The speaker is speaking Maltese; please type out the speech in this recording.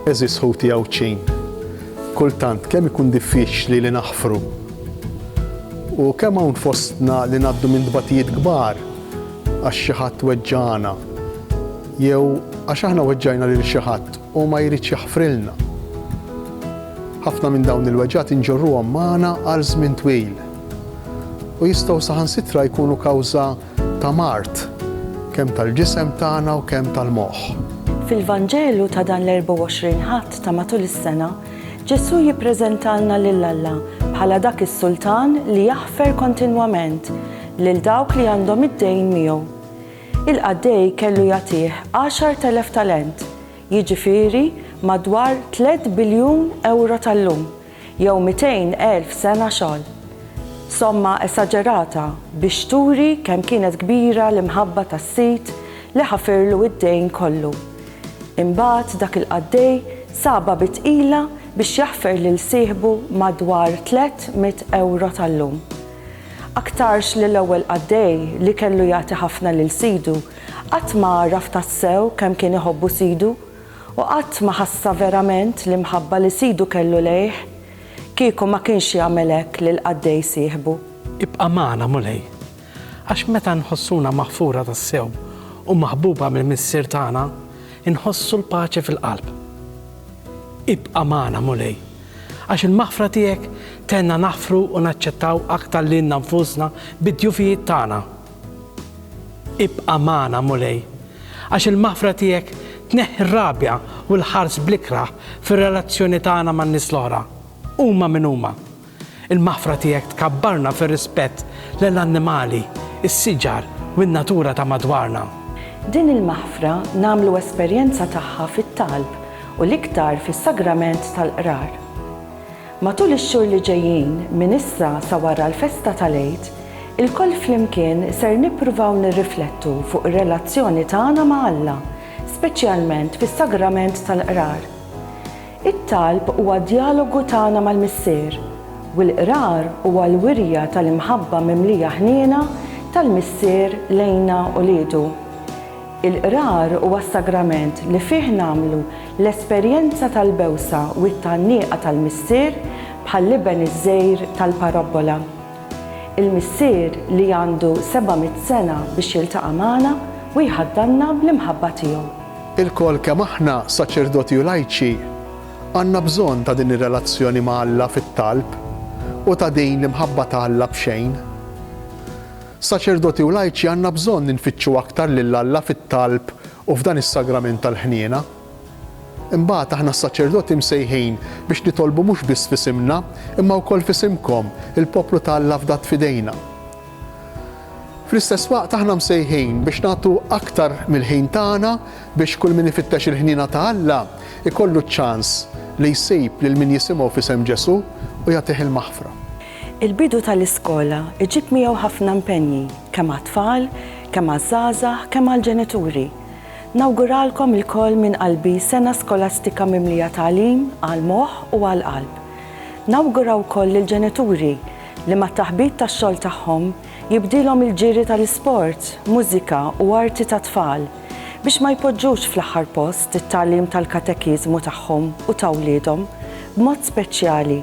Għeżież ħuti Għawdxin, kultant kemm ikun diffiċli li naħfru! U kemm hawn fostna li ngħaddu minn tbatijiet kbar għax xi ħadd weġġagħna jew għax aħna weġġajna lil xi ħadd u ma jridx jaħfrilna. Ħafna minn dawn il-weġgħat inġorruhom magħna għal żmien twil u jistgħu saħansitra jkunu kawża ta' mard, kemm tal-ġisem tagħna u kemm tal-moħħ. Fil-Vanġelu ta' dan l-24 Ħadd ta' matul is-sena, Ġesù jippreżentalna lil Alla bħala dak is-Sultan li jaħfer kontinwament lil dawk li għandhom id-dejn miegħu. Il-qaddej kellu jagħtih għaxart elef talent, jiġifieri madwar tliet biljun ewro tal-lum. jew 200 elf sena xogħol. Somma esaġerata biex turi kemm kienet kbira l-imħabba tas-sid li ħafirlu id-dejn kollu. Imbagħad dak il-qaddej sabha bi tqila biex jaħfer lil sieħbu madwar tlett mitt ewro tal-lum. Aktarx li l-ewwel qaddej li kellu jagħti ħafna lil sidu qatt ma għaraf tassew kemm kien iħobbu sidu, u qatt ma ħassa verament l-imħabba li Sidu kellu lejh, kieku ma kienx jagħmel hekk lill-qaddej sieħbu. Ibqa' magħna, Mulej, għax meta nħossuna maħfura tassew u maħbuba mill-Missier tagħna, inħossu l-paċi fil-qalb. Ibqa' magħna, Mulej, għax il-maħfra tiegħek tgħinna naħfru u naċċettaw aktar lilna nfusna bid-djufijiet tagħna. Ibqa' magħna, Mulej, għax il-maħfra tiegħek tneħħi r-rabja u l-ħars bl-ikrah fir-relazzjoni tagħna man-nies l-oħra, huma min huma. Il-maħfra tiegħek tkabbarna fir-rispett lejn l-annimali, is-siġar u n-natura ta' madwarna. Din il-maħfra nagħmlu esperjenza tagħha fit-talb u l-iktar fis-sagrament tal-Qrar. Matul ix-xhur li ġejjin, minn issa sa wara l-festa tal-Għid, ilkoll flimkien ser nippruvaw nirriflettu fuq ir-relazzjoni tagħna ma' Alla, speċjalment fis-Sagrament tal-Qrar. It-talb huwa djalogu tagħna mal-Missier, u l-Qrar huwa l-wirja tal-imħabba mimlija ħniena tal-Missier lejna uliedu. Il-Qrar huwa s-sagrament li fih nagħmlu l-esperjenza tal-bewsa u t-tgħanniqa tal-Missier bħall-iben iż-żgħir tal-parabbola. Il-Missier li għandu seba' mitt sena biex jiltaqa' magħna u jħaddanna bl-imħabba tiegħu. Ilkoll kemm aħna, saċerdoti u lajċi, għandna bżonn ta' din ir-relazzjoni ma' Alla fit-talb u ta' din l-imħabba ta' Alla b'xejn. Saċerdoti u lajċi għandna bżonn infittxu aktar lil Alla fit-talb u f'dan is-sagrament tal-ħniena. Imbagħad aħna s-saċerdoti msejħin biex nitolbu mhux biss f'isimna, imma wkoll f'isimkom, il-poplu ta' Alla fdat f'idejna. Fl-istess waqt aħna msejħin biex nagħtu aktar mill-ħin tagħna biex kull min ifittex il-ħniena ta' Alla ikollu ċ-ċans li jsib lil min jisimgħu f'isem Ġesù u jagħtih il-maħfra. Il-bidu tal-iskola jġib miegħu ħafna impenji kemm għat-tfal, kemm għaż-żgħażagħ, kemm għall-ġenituri. Nawguralkom ilkoll minn qalbi sena skolastika mimlija tagħlim għall-moħħ u għall-qalb. Nawgura wkoll lill-ġenituri li mat-taħbit tax-xogħol tagħhom jibdielhom il-ġiri tal-isport, mużika u arti tat-tfal biex ma jpoġġux fl-aħħar post it-tagħlim tal-katekiżmu tagħhom u ta' wliedhom, b'mod speċjali